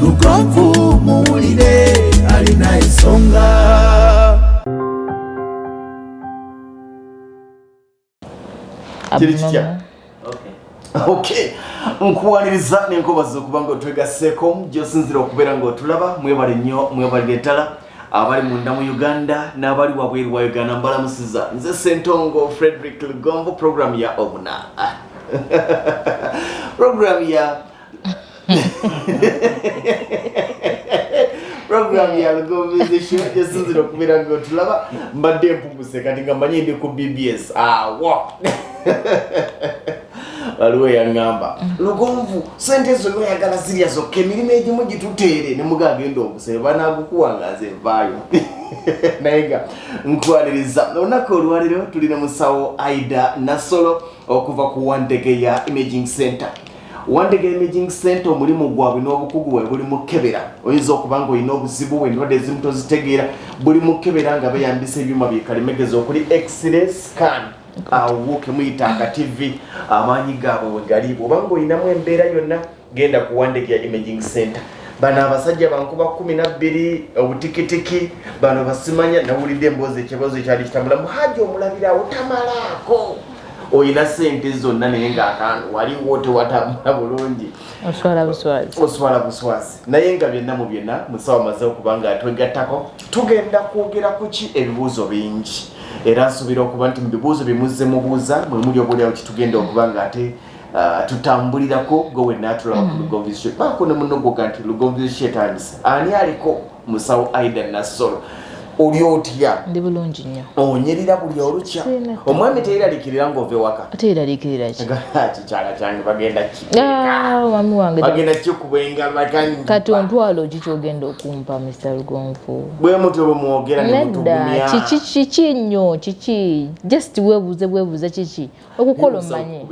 lugonvu muwulire alina ensonga kiri kitya okay nkuwaniriza nenkubaza okuba nga otwegasseeko gyosinzira okubeera nga otulaba mwebale nnyo mwebalire ddala abali munda mu uganda n'abali wabweru wa uganda mbalamusiza nze sentongo frederick lugonvu programu ya obuna programu ya program ya lugombezi shujja sinzira okubeera nga otulaba mbadde mpuguse kati nga manyi ndi ku bbs awo waliwo yaŋŋamba lugonvu sente ezo noyagala zirya zokka emirimu egimu gituteere ne muga agenda obusebe banagukuwa nga nze vaayo naye nga nkwaniriza olunaku olwaliro tuli ne musawo aida nasolo okuva ku wantege ya imaging center Wandega Imaging Center omulimu gwabwe n'obukugu bwe buli mukebera oyinza okuba nga olina obuzibu bwe ndwadde ezimu tozitegeera buli mukebera nga beyambisa ebyuma byekalimegezi okuli x-ray scan awo kemuyita nga tv amaanyi gaabwe wegali bwoba nga olinamu embeera yonna genda ku Wandega Imaging Center bano abasajja bankuba kumi nabbiri obutikitiki bano basimanya nawulidde emboozi ekiboozi ekyali kitambula muhaji omulabira otamalaako oyina sente zonna naye nga akantu waliwo tewatambula bulungi oswala buswazi oswala buswazi naye nga byonna mu byonna musawa maze okuba nga twegattako tugenda kwogera ku ki ebibuuzo bingi era nsuubira okuba nti mu bibuuzo byemuze mubuuza mwe muli obuliawo kitugenda okuba nga ate uh, tutambulirako gwe wenna atulaba ku mm. lugonvizisyo baako ne munogoga nti lugonvizisyo etandise ani aliko musawo aida nassolo oli otya ndi bulungi nnyo onyirira buli olukya omwami teyiralikirira ngaova ewaka teyiralikirirkikyala kyange bagenda ah, omwami wange bagenda kikuba engalo kati ontwalo ki kyogenda okumpa mr lugonvu bwe mutyo bwe mwogera nedda kiki kiki nnyo kiki just webuuze bwebuuza kiki okukola omanye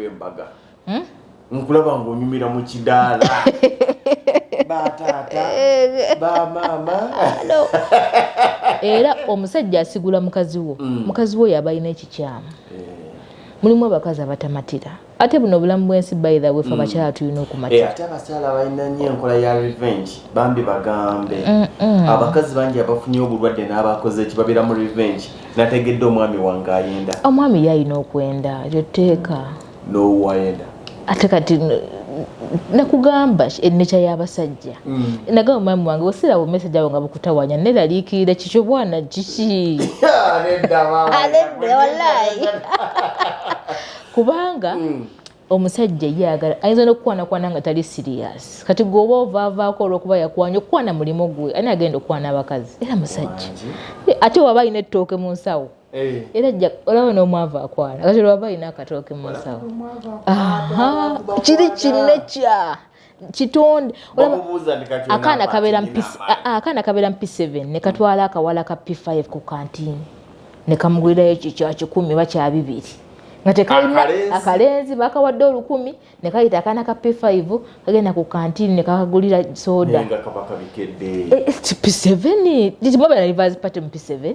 hmm? nkulaba ng'onyumira mu kidaala bataata bamaama era omusajja asigula mukazi wo mm. mukazi wo yaba alina ekikyamu eh. mulimu abakazi abatamatira ate buno obulamu bwensi baitha wefe mm. abakyala tulina okumatira eh, ate abakyala balina nyo enkola ya revenge bambi bagambe abakazi bangi abafunye obulwadde n'abakoze eki babeera mu revenge nategedde omwami wange ayenda omwami yalina okwenda ekyo tteeka nowayenda ate kati nakugamba enneca y'abasajja mm. nagamba omwami wange osira wo message awo nga bukutawanya neraliikirira kikyo bwana kiki kubanga mm. omusajja ye agala ayinza n'okukwanakwana nga tali siriyasi kati gweoba ovaavaako olwokuba yakwanya okukwana mulimu gwe ani agenda okukwana abakazi era musajja ate waba alina ettooke mu nsawo Eh. era olaba n'omwavu akwana kati lwaba alina akatooke mu nsawo kiri kinekya kitonde akaana kabeera akaana kabeera mpi 7 ne katwala akawala ka p5 ku kantini ne kamugwirayo kikya kikumi oba kya bibiri nga tekalina akalenzi bakawadde olukumi ne kayita akaana ka p5 kagenda ku kantini ne kakagulira soda p7 mubera rivers party mu p7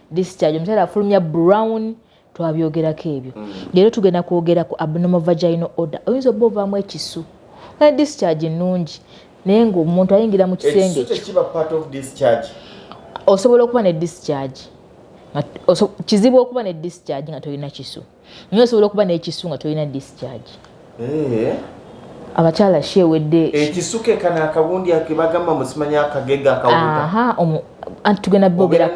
discharge omukyala afulumya brown twabyogerako ebyo mm. leero tugenda kwogera ku abnormal vaginal order oyinza oba ovaamu ekisu naye discharge nnungi naye ngaomuntu ayingira mu kisenge osobola okuba ne discharge kizibu okuba ne discharge nga tolina kisu naye osobola okuba n'ekisu nga tolina discharge eh. abakyala shi ewedde ekisuka ekana akabundi akebagamba musimanya akagega akawuta anti tugenda bogera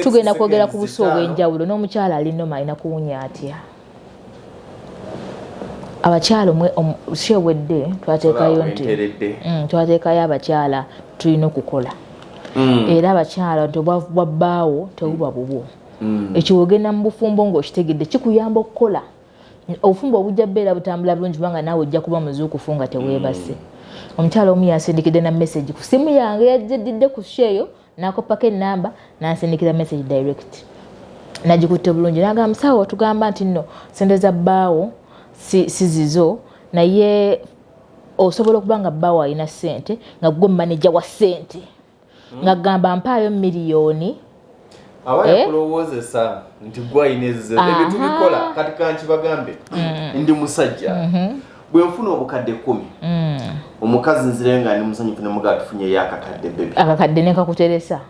tugenda kwogera ku busi obw'enjawulo n'omukyala ali noma alina kuwunya atya abakyala omwe shi ewedde twateekayo nti mm, twateekayo abakyala tulina okukola mm. era abakyala nti obwavu bwa bbaawo tebuba bubwo mm. ekyo wogenda mu bufumbo ng'okitegedde kikuyamba okukola obufumbo obujja beera butambula bulungi kubanga naawe ojja kuba muzuukufu nga teweebase mm. omukyala omu yansindikidde na message ku simu yange yajjedidde ku sheeyo nakoppako enamba nansindikira message direct nagikutte bulungi nagamba musawo otugamba nti nno sente za bbaawo sizizo naye osobola okuba nga bbaawo alina sente nga gwe maneja wa sente hmm. nga gamba mpaayo miliyoni aba eh? yakulowoozesa nti gwalina ezizo ebyo tubikola kati kankibagambe hmm. ndi musajja mm-hmm. bwe nfuna obukadde kumi hmm. omukazi nzirayo nga ndi musanyufu nemugaa tufunyeyo akakadde bebi akakadde nekakuteresa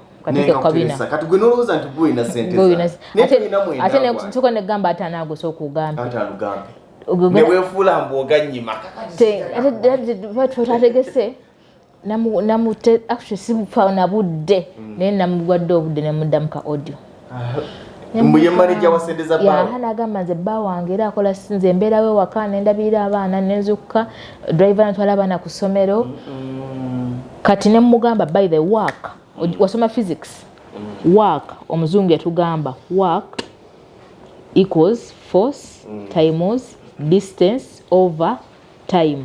kati gwe nolowooza nti gwolina senteate nsoka negamba atanaagose okugambe newefuula mbu oganyima ate twategese namute actually sibufa na budde mm. naye namugwadde obudde nemuddamu ka audio nagamba nze bba wange era akola nze embeerawo ewaka nendabirira abaana nenzukka driver natwala abaana ku ssomero kati nemugamba by the work mm. wasoma physics mm. work omuzungu yatugamba work equals force mm. times distance over time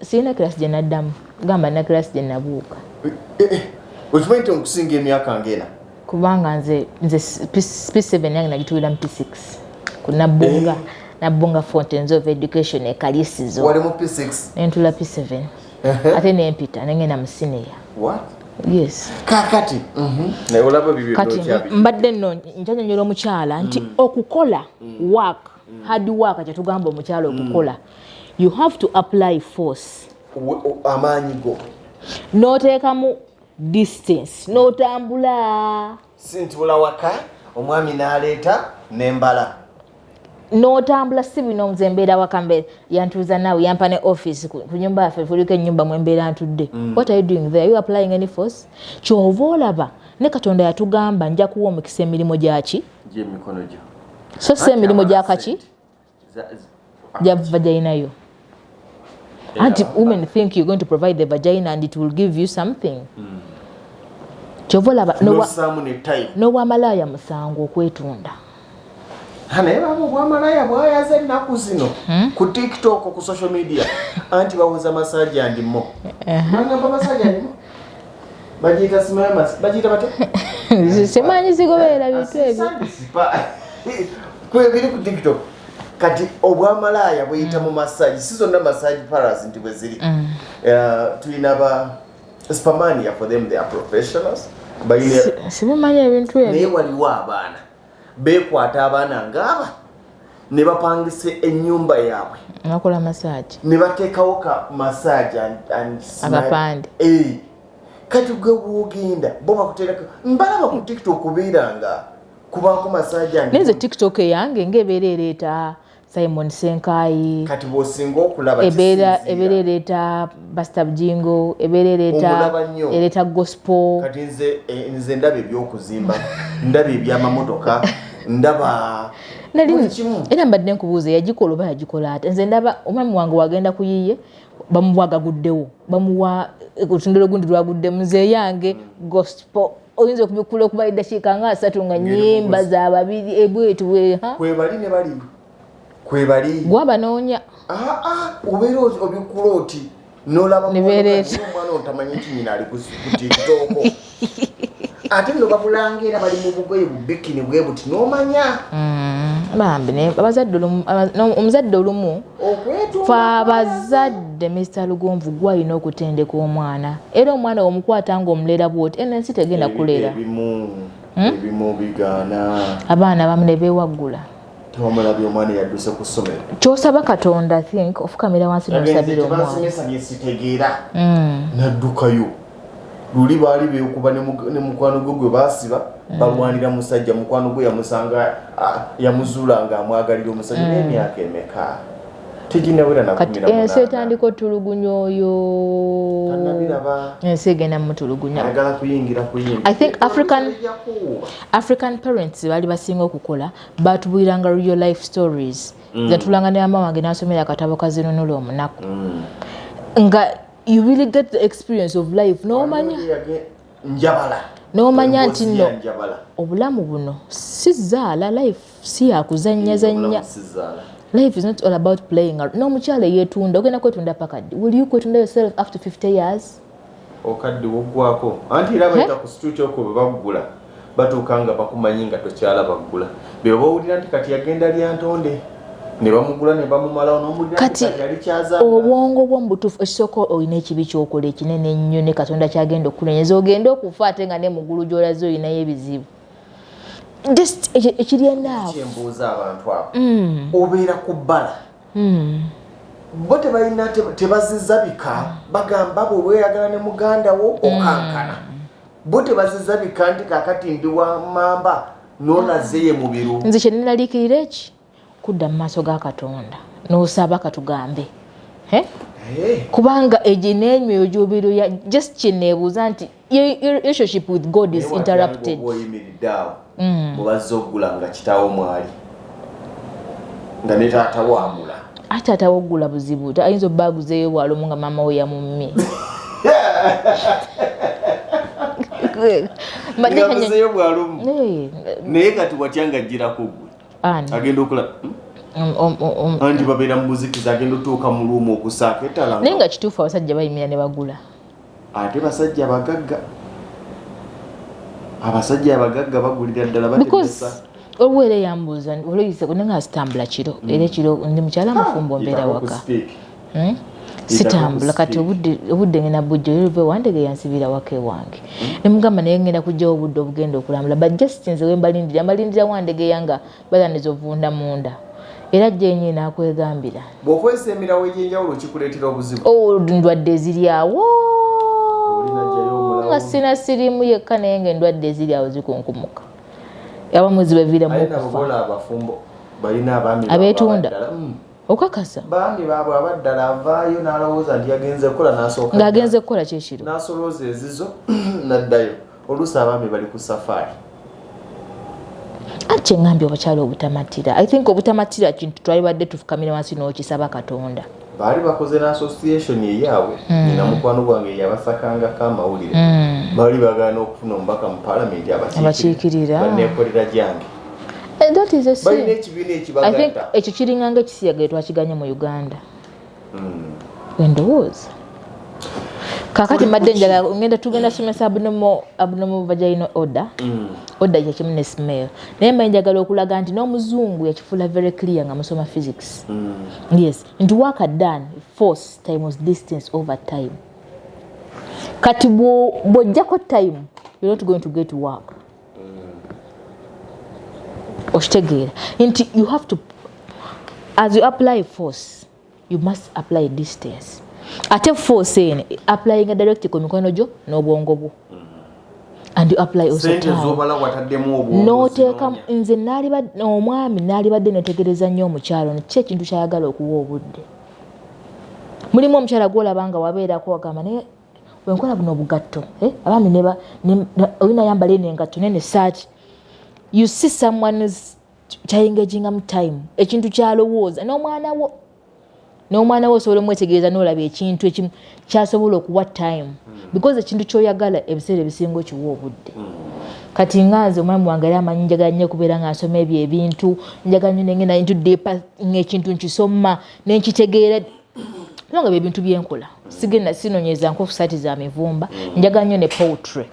sirina kirasi gye naddamu gamba na kirasi gye nabuuka eh, eh, eh. okimanyi nti okusinga emyaka ngena kubanga nze nze p7 yange nagitulira mu p6 kunabbunga nabbunga fountains of education ekalisizo nentula p7 ate nempita nengenda mu sineya yes kakati mhm. kati mbadde nno njanyonyola omukyala nti mm. okukola mm. work mm. hard work kyetugamba omukyalo mm. okukola you have to apply force amaanyi go noteekamu distance notambula sintula waka omwami naleeta nembala notambula si bino nze mbeera waka mbeera yantuuza naawe yampa ne office ku nyumba yaffe kuliko enyumba mwembeera ntudde mm. what are you doing there you applying any force kyova olaba ne katonda yatugamba nja kuwa omukisa emirimu gyaki gyemikono gyo so si emirimu gyakaki gyava gyalinayo anti women think you're going to provide the vagina and it will give you something mm. kyova olaba nowamalaaya musango okwetunda naye baba obwamalaaya bwayaza ennaku zino hmm? ku tiktok ku social media anti bawoza masaji andimo uh-huh. bagiyita simama bagiyita bate simanyi zigoberera bintu ebyo kwebiri ku tiktok kati obwamalaaya buyita mu massage si zonna massage paras nti bwe ziri mm. eh, tulina ba spamania for them they are professionals sibimanyi ebintu ebyo naye waliwo abaana bekwata abaana ngaaba ne bapangisa ennyumba yaabwe nebakola masaagi ne bateekawo ka masaagi abapande eh. kati gwe wogenda bo bakuteerako mbalaba ku tiktok obeera nga kubaako masaagi naye nze tiktok eyange ngaebeera ereeta Simon Senkayi kati bwosinga okulaba ebeera ebeera ereeta Basta Bujingo ebeera ereeta ereeta gospel kati nze eh, nze ndaba ebyokuzimba ndaba ebyamamotoka ndaba nali era mbadde nkubuuza yagikola oba yagikola ate nze ndaba omwami wange wagenda kuyiye bamuwa gaguddewo bamuwa eh, olutundiro gundi lwaguddemu nze eyange gospel oyinza okubikkula okuba eddakiika nga asatu nga nyimba za babiri ebwetu eh, bwe ha kwebali ne bali kwebali gwa banoonya ah ah obeera obikkula oti nolaba omwana otamanyi nti nyina ali kutitooko ate no babulanga era bali mu bugoye bubikini bwe buti nomanya mm, bambi abazadde omuzadde olumu fe abazadde mister lugonvu gwe alina okutendeka omwana era omwana womukwata nga omulera bwoti eno ensi tegenda kulera hmm? abaana bamu nebewaggula tomulabi omwana yadduse ku ssomero kyosaba katonda think ofukamira wansi nosabira omwana hmm. naddukayo luli baali beekuba ne mukwano gwe gwe baasiba mm. balwanira musajja mukwano gwe yamusanga yamuzuula nga amwagalira omusajja mm. n'emyaka emeka kati ensi etandika otulugunya oyo ensi egenda mutulugunya i think african, african parents baali basinga okukola batubuliranga real life stories mm. zatulanga ne mama wange nasomera akatabo kazinunula omunaku mm. nga you really get the experience of life nomanya njabala nomanya nti no obulamu buno si zaala life si yakuzannya zannya life is not all about playing n'omukyala eyetunda ogenda kwetunda pakaddi will you kwetunda yourself after 50 years okadde woggwako anti era bayita ku situti okwo bwe baggula Batuuka nga bakumanyi nga tokyalaba ggula. Bebo bowulira nti kati yagenda lyantonde. Kati obwongo bwo mubutufu ekisooka olina ekibi kyokola ekinene ennyo ne katonda kyagenda okukulenyeza ogende okufa ate nga ne mugulu gyolaze olinayo ebizibu just ekiryenakyembuuza abantu abo mm. obeera ku bbala mm. bo tebalina tebaziza bika bagamba bwe weyagala ne muganda wo mm. okankana bo tebaziza bika nti kakati ndi wa mamba nolaze ye mubiru nze kyenenaliikirira eki kudda mu maaso ga katonda nosaba katugambe eh? kubanga egyo n'emyoyo gy'obiru ya just kyeneebuuza nti relationship with god is interrupted mm. mubazze okugula nga kitaawo mwali nga ne taata wamula ate taata wokugula buzibu ayinza obba aguzeeyo bwalomu nga maama we yamumme ngabuzeeyo bwalomu naye kati watya nga ajjirako gwe agenda okula hmm? Um, um, um, anti babeera mubuzikiza agenda otuuka mu luumu okusaako etala naye nga kituufu abasajja bayimira ne bagula Ate basajja bagagga abasajja abagagga bagulira ddala batemesa obu era yambuuza olwoyise kunanga asitambula kiro hmm. era ekiro ndi mukyala mufumbo ah, mbeera waka hmm? sitambula kati obudde ngenda bujja oluluva ewandege yansibira waka ewange hmm. nemugamba naye ngenda kujjawo obudde obugenda okulambula but just nze wembalindira mbalindira wandege yanga Balandiza ovunda munda era jenyi nakwegambira. Bwokozesa emirawo egyenjawulo kikuleetera obuzibu. Oh, ndwadde ziri awo nga sina sirimu yekka naye nga endwadde eziri awo zikunkumuka abamu zibaviiramu abeetunda hmm. okakasa baami baabwe abaddala avaayo n'alowooza nti yagenze kukola n'asooka ng'agenze kukola kyekiro n'asolooza ezizo n'addayo oluusi abaami bali ku safaari ati kyeŋambye obukyala obutamatira i think obutamatira kintu twalibadde tufukamira wansi n'okisaba katonda baali bakoze na association eyaabwe hmm. nina mukwano gwange yabasakangako amawulire hmm. baali bagaana okufuna omubaka mu palamenti abakiikirira banekolera gyange eh, ekyo kiringanga ekisiyaga etwakiganye mu uganda wendowooza kakati mbadde njala ngenda tugenda somesa abnormal abnormal vaginal order mm. order kyekimu ne smell naye mba njagala okulaga nti n'omuzungu yakifuula very clear nga musoma physics mm. yes nti waka done force times distance over time kati bw'ojjako time you're not going to get work okitegeera nti you have to as you apply force you must apply distance ate force eno applyinga direct ku mikono gyo n'obwongo bwo and you apply also noteeka nze nalibadde omwami nalibadde netegereza nnyo omukyalo ono ki ekintu kyayagala okuwa obudde mulimu omukyala gwolaba nga wabeerako wagamba naye wenkola buno obugatto eh, abaami neba olina yambala eno engatto nene saaki you see someone's kyayengegingamu time ekintu kyalowooza n'omwana wo n'omwana wo osobola omwetegereza n'olaba ekintu ekimu kyasobola okuwa time hmm. because ekintu kyoyagala ebiseera ebisinga okiwa obudde hmm. kati nga nze omwami wange era amanyi njagala nnyo okubeera nga nsoma ebyo ebintu njagala nyo nengenda into deepa ngaekintu nkisoma nenkitegeera kubanga byebintu byenkola sigenda sinonyeza nkofu sati za mivumba mm. njaga nnyo ne poultry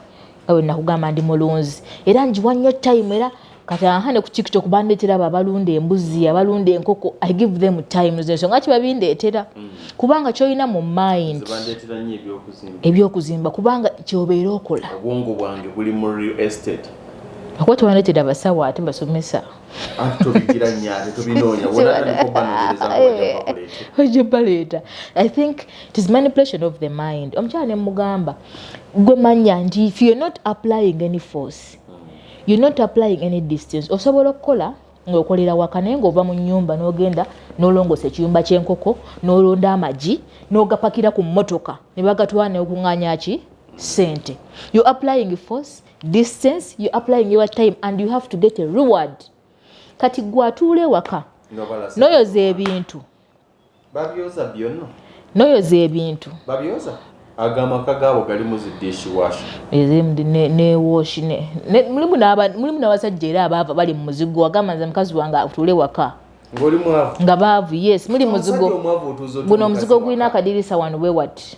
awe nakugamba ndi mulunzi era njiwa nnyo time era kati aha ne ku tiktok bandeetera abo abalunda embuzi abalunda enkoko i give them time zensonga ki babindeetera mm. kubanga kyolina mu mind ebyokuzimba kubanga kyobeera okola okuba tebandeetera abasawo ate basomesa ojja baleeta i think tis manipulation of the mind omukyala ne mugamba gwe manya nti if you're not applying any force you're not applying any distance osobola okukola ngaokolera waka naye ngaova mu nyumba nogenda nolongosa ekiyumba kyenkoko nolonda amagi nogapakira ku motoka nebagatwala neokunganyaki sente you applying force distance you applying your time and you have to get a reward kati gwe atuula ewaka noyoza ebintu babyoza byonna noyoza ebintu babyoza agamaka gaabo galimu zidishi washi newoshi mulimu n'abasajja era abaava bali mu muzigo agamba nze mukazi wange atuule waka ngoli mwavu nga baavu yes muli muzigo guno omuzigo gulina akadirisa wano bwe wati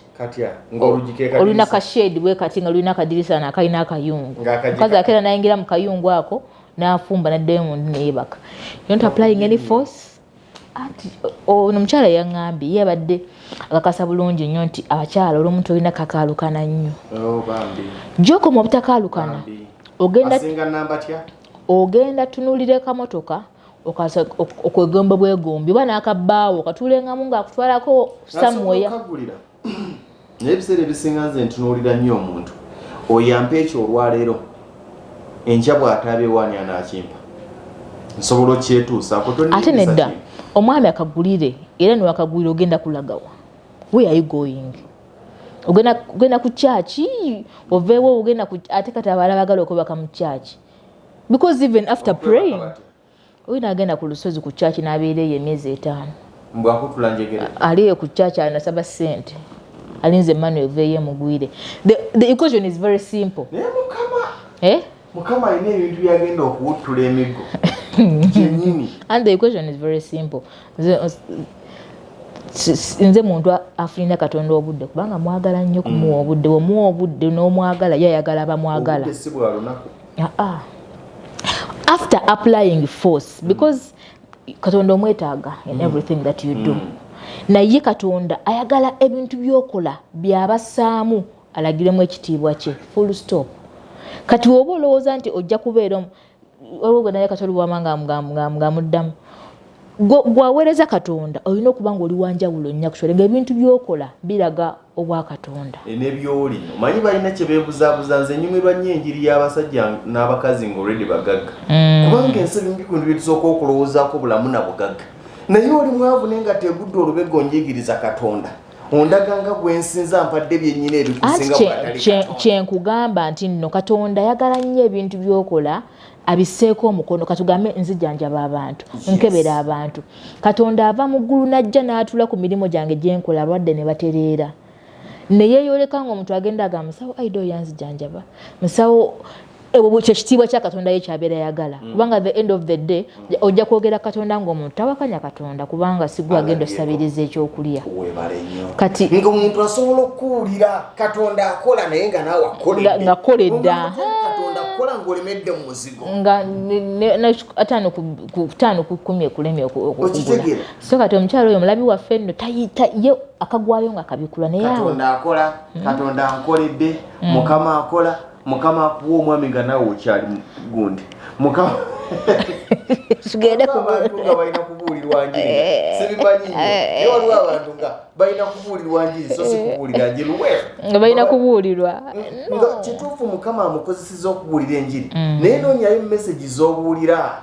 olina kashade bwe kati nga lulina akadirisa wano akalina akayungu mukazi akeera nayingira mu kayungu ako n'afumba naddayo mu ndi neyebaka yont applying any force ono omukyala yaŋambye ye abadde akakasa bulungi nnyo nti abakyala olumu tolina kakaalukana nnyo oh, gyokoma obutakaalukana ogenda ogenda tunulira kamotoka okwegomba bwegombi oba nakabbaawo katuulengamu ngaakutwalako samuweya naye ebiseera ebisinga nze ntunuulira nnyo omuntu oyampa ekyo olwaleero enkya bw'ataabewaani anaakimpa nsobola okyetuusaako ate nedda omwami akagulire era niwakagulire ogenda kulagawa where are you going ogenda ku kyaki oveewo ogenda ate kati abaala bagala okwebaka mu kyaki because even after praying oyo nagenda ku lusozi ku kyaki nabeera eyo emyezi etaano ali eyo ku kyaki anasaba sente alinze emmanuel eveeyo emugwire the equation is very simple eh? mukama alina ebintu byagenda okuwuttula emigo kyenyini and the equation is very simple nze muntu afunina katonda obudde kubanga mwagala nnyo kumuwa mm. obudde omuwa obudde n'omwagala yo ayagala bamwagala ah, ah. after applying force mm. because katonda omwetaaga in mm. everything that you do naye katonda ayagala ebintu byokola byabasaamu alagiremu ekitiibwa kye full stop kati woba olowooza nti ojja kubeera waliwo gwe naye katoli wama ng'amuddamu gwaweereza katonda olina okuba nga oli wanjawulo nnya kusole ngaebintu byokola biraga obwa katonda e, nebyoli omanyi balina kyebebuzabuza nze nyumirwa nnyo enjiri y'abasajja n'abakazi nga olredi bagagga mm. kubanga ensi ebimu bikundu byetusooka okulowoozaako bulamu na bugagga naye oli mwavu naye nga tegudde olubega onjigiriza katonda ondaga nga gwensinza mpadde byenyina ebikyenkugamba nti nno katonda ayagala nnyo ebintu byokola abiseeko omukono katugambe nzijanjaba abantu nkebera abantu katonda ava mu ggulu najja n'atula ku mirimu gyange gyenkola alwadde ne batereera neyeyoleka nga omuntu agenda aga musawo aida oyanzijanjaba musawo ebwo buli kyekitiibwa kya katonda ye kyabeera yagala mm. kubanga the end of the day mm. ojja kwogera katonda ngaomuntu tawakanya katonda kubanga sigwa agenda osabiriza ekyokulya kati ngaomuntu asobola okuwulira katonda akola naye nga naawe akolengakola edda ataano ku kumi ekulemye okukugula so kati omukyalo oyo omulabi waffe nno tayita ye akagwayo nga akabikula naye katonda akola katonda ankoledde mm. mukama akola mukama akuwa omwami nga naawe okyali gundi mukama abantu nga balina kubuulirwa njiri eh. sibimanyi nyo eh. naye waliwo abantu nga balina kubuulirwa njiri so si kubuulira njiri we nga balina kubuulirwa nga kituufu mukama amukozeseza okubuulira enjiri mm. naye noonyayo messagi z'obuulira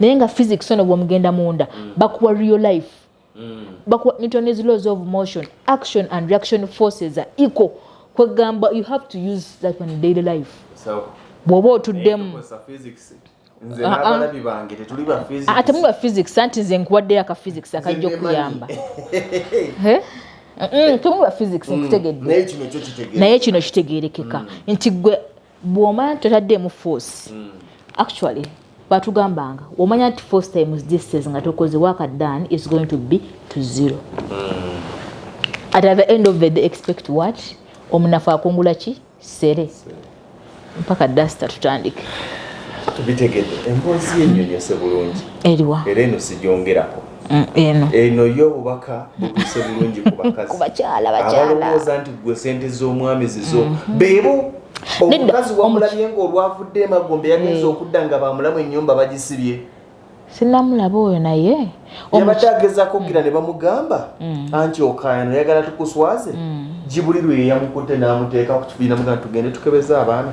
naye nga physics ono bwomugenda munda mm. bakuwa real life mm. bakuwa newton's laws of motion action and reaction forces are equal kwegamba you have to use that one daily life bwoba otuddemu atemu ba physics anti nze nkuwaddeyo aka physics akajja okuyamba temu ba physics nkutegedde naye kino kitegerekeka nti gwe bw'omanya nti totaddeemu force mm. actually batugambanga omanya nti force times distance nga tokoze waka done is going to be to zero mm. at the end of the day expect what omunafu akungula ki sere mpaka dasta tutandike tubitegedde emboozi yenyonyose bulungi eriwa era eno sijongerako mm, eno eno yo obubaka butuuse bulungi ku bakazi ku bakyala bakyala abalowooza nti gwe sente z'omwami zizo mm -hmm. beebo omukazi wamulabye nga olwavudde emagombe yagenza eh. okudda nga bamulamu enyumba bagisibye sinamulaba oyo naye yabadde agezako gira ne bamugamba mm. anti okayano yagala tukuswaze mm. gibuli lwe yeyamukutte n'amuteeka ku kibiina mugana tugende tukebeza abaana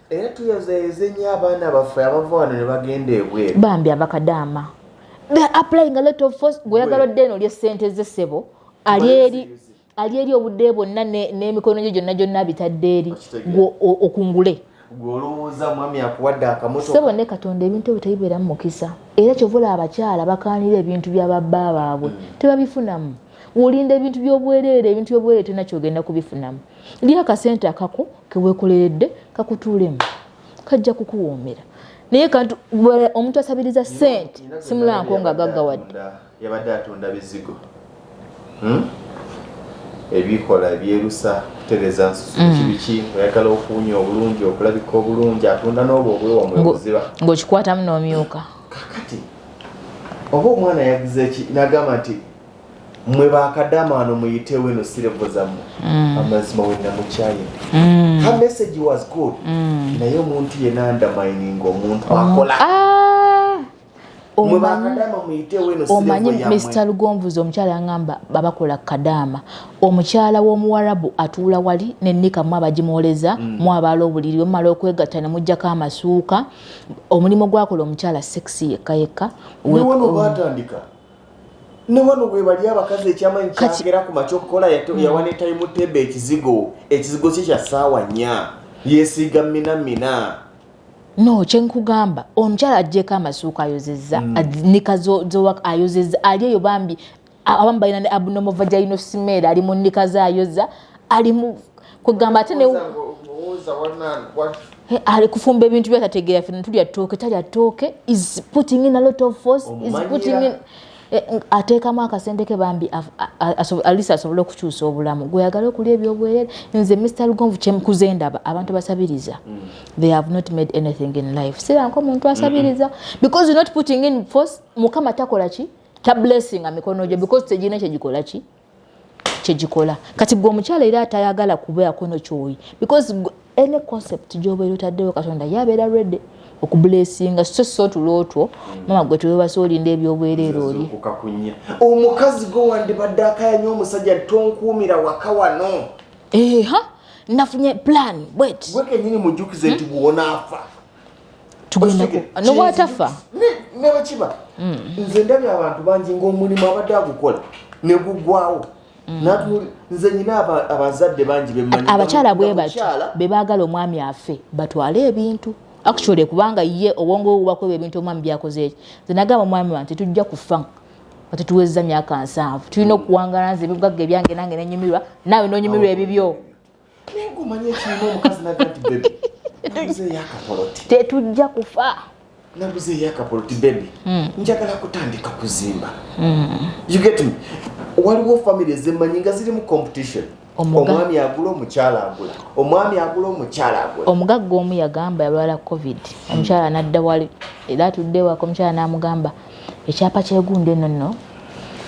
era tuyozayoze nnyo abaana baffe abava wano ne bagenda ebweru bambi abakadaama the applying a lot of force gweoyagala odde eno olye ssente ze ssebo ali eri ali eri obudde bwonna n'emikono gyo gyonna gyonna bitadde eri gwe okungule gwolowooza mwami akuwadde akamoto sebo ne katonda ebintu ebyo tebibeera mu mukisa era kyovula abakyala bakaanira ebintu bya babba baabwe mm. tebabifunamu wolinda ebintu byobwereere ebintu byobwereere tolina kyogenda kubifunamu lya akasente akako kewekoleredde kakutuulemu kajja kukuwoomera naye kantu omuntu asabiriza sente simulanko nga gaggawadde yabadde atunda bizigo hmm? ebikola ebyerusa kutereza nsusu mm. kibiki oyagala okuwunya obulungi okulabika obulungi atunda n'obwo obwewamwebuziba ng'okikwatamu n'omyuka kakati oba omwana yagize ki nagamba nti mwe bakadamaano muyitewo eno sirevo zammwe mm. amazima wenamukyayina mm. her message was good mm. naye omuntu yena ndamining omuntu oh. akola ah. omanyi mr lugonvuzi omukyala yangamba babakola kadaama omukyala w'omuwarabu atuula wali nenika mu abagimuwoleza mu abaala obuliri omumala okwegatta nemugjako amasuuka omulimu gwakola omukyala sexy yekka yekka ne wano webali abakazi ekyamanyi kyagera ku makya okukola hmm. yawa ne tayimu tebe ekizigo ekizigo kye kya ssaawa nnya yesiiga mina mina no kyenkugamba omukyala ajjeko amasuuka ayozeza hmm. nika zowak ayozeza ali eyo bambi abamu balina ne abnormal vaginal smear ali mu nika zayoza ali mu kwegamba ate ne eh, ali kufumba ebintu byatategeera fe netulya tooke talya tooke is putting in a lot of force is putting in eh, ateekamu akasente ke bambi alisa asobole okukyusa obulamu gweyagala okulya ebyobwerere nze mr lugonvu kyemkuze ndaba abantu basabiriza mm. they have not made anything in life siranka omuntu asabiriza because you're not putting in force mukama takola ki ta blessing a mikono gye because tegirina kyegikola ki kyegikola kati gwe omukyala era atayagala kubeerako no kyoyi because any concept gyobeera otaddewo katonda ye abeera redi okubulesinga so so tulootwo mama gwe tewebasa olinda ebyobwerere oli omukazi gwe wandibadde akayanya omusajja tonkuumira waka wano eha nafunye plan bwet gwe kenyini mujjukize nti hmm? bwonaafa tugennanobwatafa newekiba mm. nze ndabye abantu bangi ngaomulimu abadde agukola negugwawo mm. nze nyina abazadde bangi abakyala bwebati bebagala omwami afe batwale ebintu actually kubanga ye obwongo bubakwewa ebintu omwami byakozeeki nze nagamba omwami wange tetujja kufa atetuwezza myaka nsanvu tulina okuwangala nze ebibugagga ebyange nange nenyumirwa naawe nonyumirwa ebibyo naye gumanye ekirina omukazi naga nti bebi naguze eyakapoloti tetujja kufa naguze eyakapoloti bebi hmm. njagala kutandika kuzimba hmm. you get me waliwo family ezemanyi nga zirimu competition omwami agula omukyala agula omwami agula omukyala agula omugagga omu yagamba yalwala covid omukyala nadda wali era atudde waka omukyala n'amugamba ekyapa kyegundi eno nno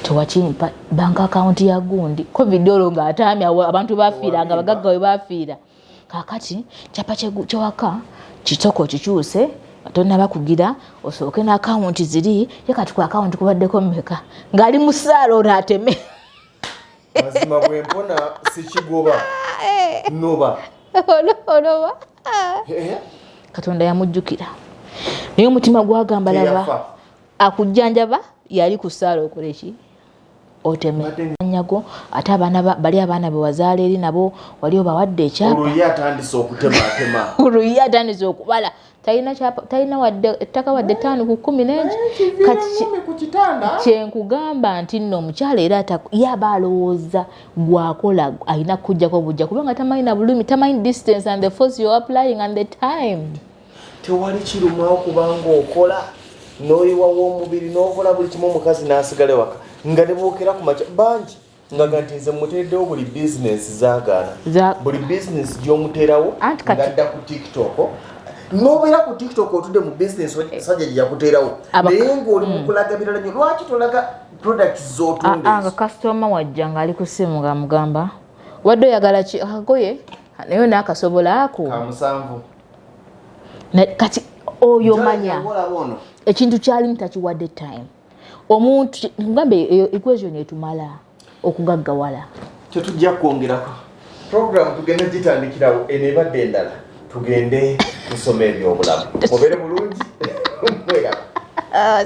tewakimpa bank akawunti ya gundi covid olwo nga ataamya abantu bafiira nga bagagga we bafiira kakati kyapa kyewaka kitoko okikyuse tonaba kugira osooke naakawunti ziri ye kati ku akawunti kubaddeko mumeka ngaali mu saala ono ateme mazima bwempona sikigoba eh. noba onoba katonda yamujjukira naye omutima gwagamba laba akujjanjaba yali ku ssaala okola eki otemeanyago ate abaana bali abaana bewazaala eri nabo wali obawadde ekyapaoluyi atandise okubala talina wadde ettaka wadde etaano ku kumi nengi kati kyenkugamba nti nno omukyala era yaba alowooza gwakola alina kujjako bujja kubanga tamanyi na bulumi tamanyi distance and the force you're applying and the time tewali kirumawo kubanga okola noyiwa womubiri nokola buli kimu omukazi nasigale waka nga nebokera kumaca bangi ngaga nti nze muteereddewo buli bizinesi zagaana buli bizinesi gyomuteerawo ngadda ku tiktok nobeera ku tiktok otudde mu bizinesi sajja gyeyakuteerawo naye ngaoli mukulaga mm. birala nyo lwaki tolaga products zotunda ah, ah, nga customer wajja nga ali kusimu nga mugamba wadde oyagala ki akagoye ah, naye nakasobola ako kamusanvu kati oyo manya ekintu kyalimu takiwadde time omuntu ngambe eyo equation etumala okugaggawala tetujja kwongerako program tugenda gitandikirawo eno ebadde endala tugende tusoma ebyobulamu mubere bulungi mwegala ah,